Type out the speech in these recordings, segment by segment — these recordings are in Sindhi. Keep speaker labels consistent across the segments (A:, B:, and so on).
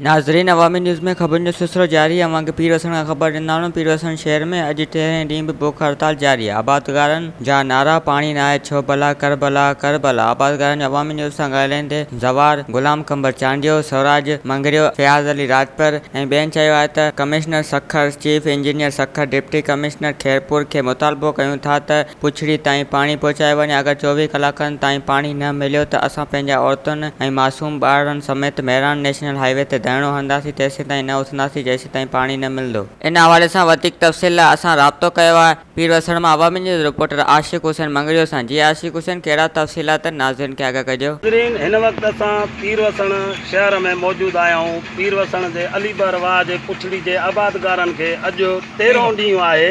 A: ناظرين عوامي نيوز ۾ خبرن جو سلسلو جاري اوهان کي پير وسڻ کان خبر ڏينداڻون پير وسڻ شهر ۾ اڄ تيرهين ڏينهن به بک هڙتال جاري آبادگارن جا نعرا پاڻي ناهي ڇو ڀلا ڪربلا ڪربلا آبادگارن جو عوامي نيوز سان ڳالهائيندي زوار، غلام قمبر چانڊيو، سوراج مڱريو، فياض علي راڄپر ۽ ٻين چيو آهي ته commissioner Sukkur, chief engineer Sukkur, deputy commissioner Khairpur کي مطالبو ڪيون ٿا ته پڇڙي تائين پاڻي پهچايو وڃي اگر چوويهه ڪلاڪن تائين پاڻي نه مليو ته اسان پنهنجا عورتن ۽ معصوم ٻارڙن سميت مهراڻ نيشنل هاء وي تي ڌرڻو هڻنداسين تيسيتائين نه اٿنداسين جيسيتائين پاڻي نه ملندو. ان حوالي سان وڌيڪ تفصيل لاء اسان رابطو ڪيو آهي. پير وسڻ مان عوامي نيوز رپورٽر عاشق حسين مڱريو سان جي عاشق حسين ڪهڙا تفصيلات آهن ناظرين کي آگاهه ڪجو. ناظرين هن وقت اسان
B: پير وسڻ شهر ۾ موجود آهيائون پير وسڻ جي علي بر واهه جي پڇڙي جي آبادگارن کي اڄ تيرهون ڏينهن آهي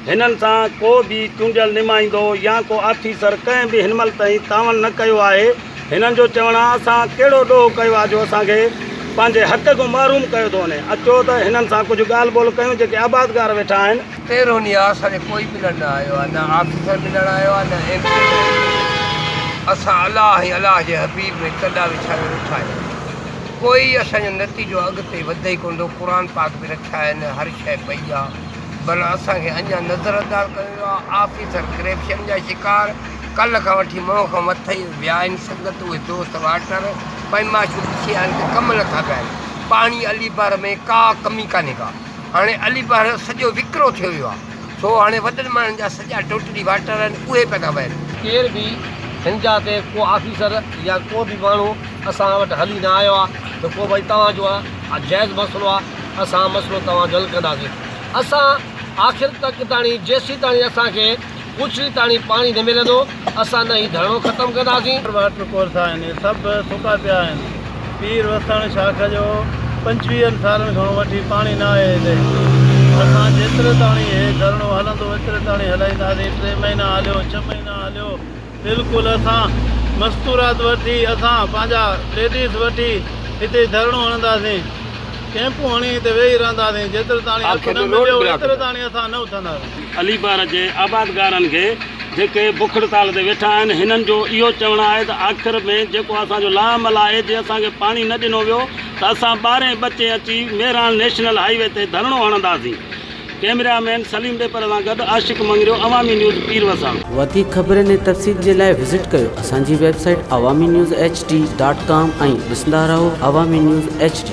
B: هنن سان ڪو به چونڊيل نمائندو يا ڪو آفيسر ڪنهن به هن مهل تائين تعاون نه ڪيو آهي هنن جو چوڻ آهي اسان ڪهڙو ڏوهه ڪيو آهي جو اسان کي پنهنجي حق کان محروم ڪيو ٿو وڃي اچو ته هنن سان ڪجهه ڳالهه ٻولهه ڪيون جيڪي آبادگار ويٺا آهن. تيرهن ڏينهن آء سان
C: ڏي ڪوئي ملڻ نه آيو آهي، نه آفيسر ملڻ آيو آهي، نه ايم پي ملڻ آيو آهي. اسان الله ۽ الله جي حبيب ۾ ڪنڊا وڇايو ويٺا آهيون. ڪوئي اسان جو نتيجو اڳتي وڌي ئي ڪونه ٿو. قرآن پاڪ به رکيا آهن، هر شيء پئي آ، بنهه اسان کي اڃا نظرانداز ڪيو ويو آ. آفيسر ڪرپشن جا شڪار، ڪلهه کان وٺي منهن کان مٿي ويا آهن. سنگت اهي دوست واٽر پئماشو ڏسي آهن ته ڪم نه ٿا ڪن. پاڻي علي بحر ۾ ڪا ڪمي ڪانهي ڪا. هاڻي علي بحر جو سڄو وڪرو ٿيو ويو آهي، سو هاڻي وڏن ماڻهن جا سڄا ٽوٽلي واٽر آهن، اهي پيا ٿا وهن. ڪير به
D: هن جا تي ڪو آفيسر يا ڪو به ماڻهو اسان وٽ هلي نه آيو آهي ته ڪو ڀائي توهان جو آهي جائز مسئلو آهي، اسان مسئلو توهان جو حل ڪنداسين. اسان آخر تڪ تاڻي جيسين تاڻي اسان کي. اوچي تاڻي پاڻي نه ملندو اسان نه هي ڌرڻو ختم ڪنداسين. ٻار واٽر ڪورس آهن اهي
E: سڀ سڪا پيا آهن پير وسڻ شاخ جو پنجويهن سالن کان وٺي پاڻي نه آيو هتي اسان جيتري تاڻي هي ڌرڻو هلندو ايتري تاڻي هلائينداسين ٽي مهينا هليو ڇهه مهينا هليو بلڪل اسان مستورات وٺي اسان پنهنجا ليڊيز وٺي هتي ڌرڻو هڻنداسين ڪيمپون هڻي هتي ويهي رهنداسين جيترتاڻي حق نه مليو ايترتاڻي اسان نه اٿنداسين. علي پار جي
B: آبادگارن کي جيڪي بک هڙتال تي ويٺا آهن هنن جو اهو چوڻ آهي ته آخر ۾ جيڪو اسان جو لاعمل آهي جي اسان کي پاڻي نه ڏنو ويو ته اسان ٻارهين ٻچين اچي مهراڻ نيشنل هاء وي تي ڌرڻو هڻنداسين ڪئميرا مين سليم ڏيپر سان گڏ عاشق مڱريو عوامي نيوز پير وسان. وڌيڪ خبرن ۽
A: تفصيل جي لاء وزٽ ڪيو اسان جي website Awami news H D dot com ۽ ڏسندا رهو عوامي نيوز ايڇ ڊي.